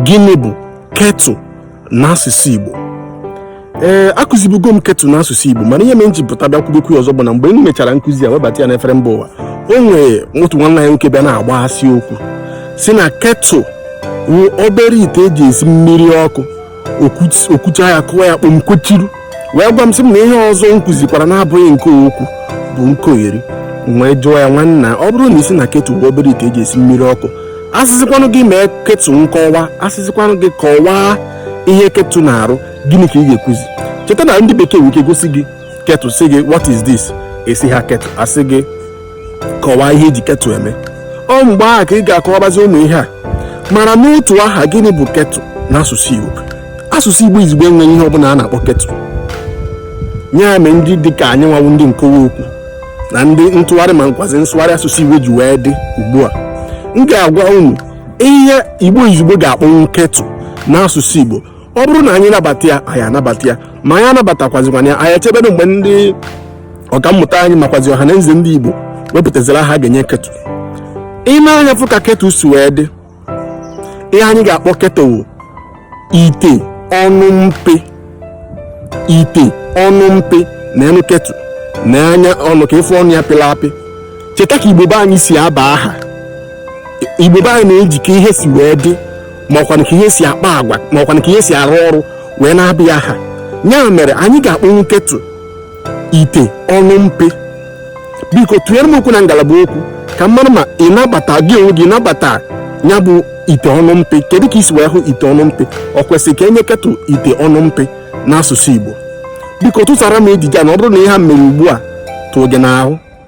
gịnị bụ kettle n'asụsụ Igbo ee eh, akụzibugo m kettle n'asụsụ Igbo mana ihe mere m ji pụta bịa kwubekwu ọzọ bụ na mgbe m mechara nkụzi ya webata ya n'efere mba ụwa o nwere otu nwanne anyị nwoke bịa na-agbaghasị okwu sị na kettle obere ite eji esi mmiri ọkụ o kwuchaa ya kụwa ya kpọm kwechiri wee gwa m sị m na ihe ọzọ m kụzikwara na-abụghị nke o kwu bụ nkogheri m wee jụọ ya nwanna ọ bụrụ na ị sị na kettle bụ obere ite eji esi mmiri ọkụ asịzikwanụ gị mee kettle nkọwa asịzikwanụ gị kọwaa ihe kettle na-arụ gịnị ka ị ga-ekwuzi cheta na ndị bekee nwere ike gosi gị kettle sị gị what is this ị sị ha kettle a sị gị kọwaa ihe e ji kettle eme ọ mgbe ahụ ka ị ga-akọwabazi ụmụ ihe a mana n'otu aha gịnị bụ kettle n'asụsụ Igbo asụsụ Igbo izugbo enweghị ihe ọbụla a na-akpọ kettle ya mee ndị dị ka anyị nwa wụ ndị nkọwa okwu na ndị ntụgharị makwazị nsụgharị asụsụ Igbo ji wee dị ugbu a m ga-agwa unu ihe Igbo izugbo ga-akpọnwụ kettle n'asụsụ Igbo ọ bụrụ na anyị nabata ya anyị anabata ya ma anyị anabatakwazikwana ya anyị echebere mgbe ndị ọkammụta anyị makwazi ọha na eze ndị igbo wepụtaziri aha a ga-enye kettle i nee anya fụ ka kettle si wee dị ihe anyị ga-akpọ kettle ite ọnụ mpe ite ọnụ mpe neenụ kettle na anya ọnụ ka ị fụ ọnụ ya pịrị apị cheta ka igbo be anyị si aba aha igbo be anyị na-eji ka ihe si wee dị ma ọkwanụ ka ihe si akpa agwa ma ọkwanụ ka ihe si arụ ọrụ wee na-aba ya aha ya mere anyị ga-akpọnwu kettle ite ọnụ mpe biko tụnyere m okwu na ngalaba okwu ka m mara ma ị nabata gị onwe gị nabata ya bụ ite ọnụ mpe kedu ka i si wee hụ ite ọnụ mpe ọ kwesịrị ka e nye kettle ite ọnụ mpe n'asụsụ Igbo biko tụsara m ejije a na ọ bụrụ na ihe a mere ugbu a tụọ gị n'ahụ